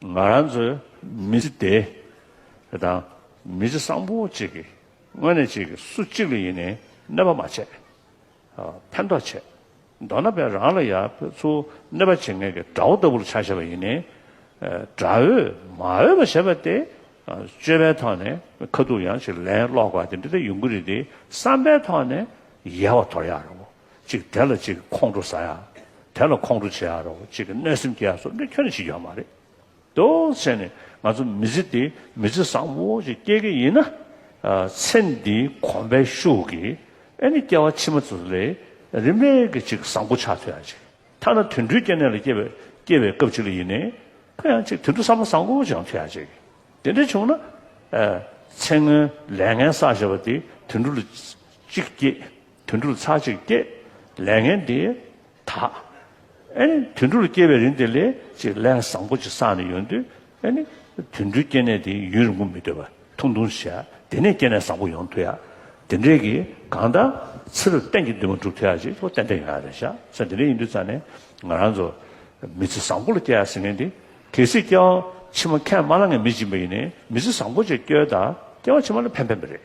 ང་རང་ཚོའི་མི་ཚེ་འདི་དང་མི་ཚེ་བཟང་པོ་གཅིག་གི་སྔོན་ནས་གཅིག་གིས་སུ་གཅིག་ལ་ཡེ་ནས་གནོད་པ་མ་བྱེད། ཕན་ཐོགས་བྱེད། མདོར་ན་བས་རང་ལ་ཡ་ཚུར་གནོད་པ་བྱེད་མཁན་གྱི་དགྲ་བོ་ལྟ་བུར་ཆགས་བཞེད་པ་ཡེ་ནས་དགྲ་འོས་མ་འོས་པ་བྱེད་པ་སྟེ། སྤྱོད་པའི་ཐོག་ནས་ཁ་ཐུག་ཡང་ཅིག་ལན་སློག་དགོས་པ་དེ་འདི་ལྟ་ཡོང་གི་རེད་དེ་བསམ་པའི་ཐོག་ནས་ཡལ་བ་དོར་ཡག་རེད་བོ། གཅིག་དེ་ལ་གཅིག་ཁོང་ཁྲོ་ཟ་ཡ། དེ་ལ་ཁོང་ཁྲོ་བྱེད་ཡ་རོ་གཅིག་གི་གནོད་སེམས་སྐྱེ་ཡ་སོགས་འདི་ཁྱོད་ནས་བྱེད་རྒྱུ་ཡ་མ་རེད་དོ། ཚེ་ནི་ང་ཚོ་མི་ཚེ་འདི་མི་ཚེ་བཟང་བོ་ཞིག་སྐྱེལ་གི་ཡིན་ན། ཚེ་འདི་གོམ་པའི་ཤུགས་ཀྱིས་ཨེ་ནི་སྐྱེ་བ་ཕྱི་མ་ཚོ་ལས་རིན་མེད་ཀྱི་ཅིག་བཟང་པོ་ཆགས་ཐུབ་ཡ་ཅིག་ཐ་ན་དུད་འགྲོའི་སྐྱེ་གནས་ལ་སྐྱེ་བའི་སྐྱེ་བའི་སྐབས་ཅིག་ལ་ཡིན་ནའི་ཁོ་ཡང་ཅིག་དུད་འགྲོ་བསམ་བློ་བཟང་བོ་ཅིག་ཡང་ཐུབ་ཡ་ཅིག་དེ་འདྲ་བྱུང་ན། ཚེ་སྔོན་ལས་ངན་བསགས་བྱས་པ་དེ་དུད་འགྲོ་ལ་ཅིག་སྐྱེས། དུད་འགྲོར་ཚར་གཅིག་སྐྱེས། ལས་ངན་འདི་དག། ཨེ་ནི་དུད་འགྲོར་སྐྱེ་བའི་རིན་དེ་ལས་ཅིག་ལས་བཟང་པོ་ཅིག་བསགས་ནས་ཡོང་དུས་ཨེ་ནི། དུད་འགྲོའི་སྐྱེ་གནས་དེ་ཡུན་རིང་པོ་མི་སྡོད་པར་ཐུང་ཐུང་བྱས། དེ་ནས་སྐྱེ་གནས་བཟང་པོ་ཡོང་ཐུ་ཡ། དེ་འདྲའི་གི་གང་ལྟར། ཚེ་རབས་གཏན་གྱི་འདུན་མ་འགྲུབ་ཐུ་ཡ་ཅིག་ཅུང་ཏན་ཏན་ཡོང་ཡ་རེད་ཤག་ས་དེ་འདྲ་ཡིན་དུས་ཙང་ནས་ང་རང་ཚོ། མི་ཚེ་བཟང་པོ་ལ་སྐྱེ་ཡ་ཟེར་མཁན་དེ། གལ་སྲིད་སྐྱེ་བ་ཕྱི་མ་ཁས་མ་བླངས་མཁན་མི་སྦྱིན་པ་ཡིན་ནའི་མི་ཚེ་བཟང་པོ་ཅིག་སྐྱེལ་ད་སྐྱེ་བ་ཕྱི་མ་ལ་ཕན་ཕན་པ་རེད།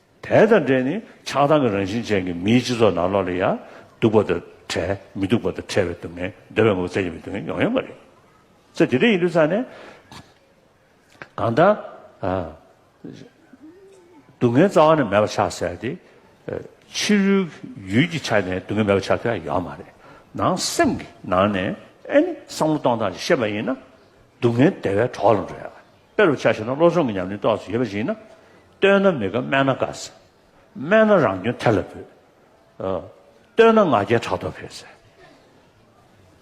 དེ་དང་འབྲེལ་ནི་ཆགས་སྡང་གི་རང་བཞིན་ཅན་གྱི་མིའི་སྤྱི་ཚོགས་ནང་ལོགས་ལ་ཡང་སྡུག་པ་དང་བྲལ་མི་སྡུག་པ་དང་བྲལ་བའི་སྡུག་བསྔལ་འདོད་པའི་ངོ་བོ་བཙལ་གྱི་མི་སྡུག་བསྔལ་ཡོང་ཡོང་པ་རེད། ཚེ་འདི་འདྲ་ཡིན་དུས་ཚང་ནས་གང་ལྟར་སྡུག་བསྔལ་རྩ་བ་ནས་མེད་པ་ཆགས་ཟེར་ཏེ་ཕྱི་རོལ་གྱི་ཡུལ་གྱི་ཆ་ནས་སྡུག་བསྔལ་མེད་པ་ཆགས་ཐུབ་ཡ་ཡོད་མ་རེད། ནང་སེམས་ཀྱི་ནང་ནས་ཨེ་ནི་བསམ་བློ་གཏོང་སྟངས་ཤེས་པ་ཡིན་ན་སྡུག་བསྔལ་དེ་བས་གྲོགས་ལ་འགྲོ་ཡ། དཔེ་རུ་ཆ་བཞིན་ནོ་བློ་སྦྱོང་གི་ཉམས་ལེན་རྟོགས་སུ་ཡོད་པ་ཞིག་ཡིན་ན། བསྟོད་ན་མི་དགའ་སྨད་ན་དགའ་ཟེར། སྨད་ན་རང་སྐྱོན་ཐལ་ལ་འབུད། བསྟོད་ན་ང་རྒྱལ་ཕྲག་དོག་འཕེལ་ཟེར།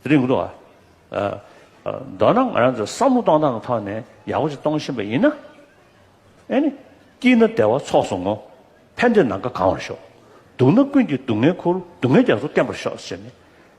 དེ་རིང་གོ་ཐོག་ཨ། མདོར་ན་ང་རང་ཚོ་བསམ་བློ་གཏོང་སྟངས་ཀྱི་ཐོག་ནས་ཡག་པོ་ཞིག་གཏོང་བཞིན་པ་ཡིན་ན། ཨེ་ནི། སྐྱིད་ན་བདེ་བ་ཚོགས་སུ་བསྔོ། ཕན་བདེ་ནམ་མཁའ་གང་བར་ཤོག། སྡུག་ན་ཀུན་གྱི་སྡུག་བསྔལ་འཁུར། སྡུག་བསྔལ་རྒྱ་མཚོ་བརྟན་པར་ཤོག་ཟེར་ནས།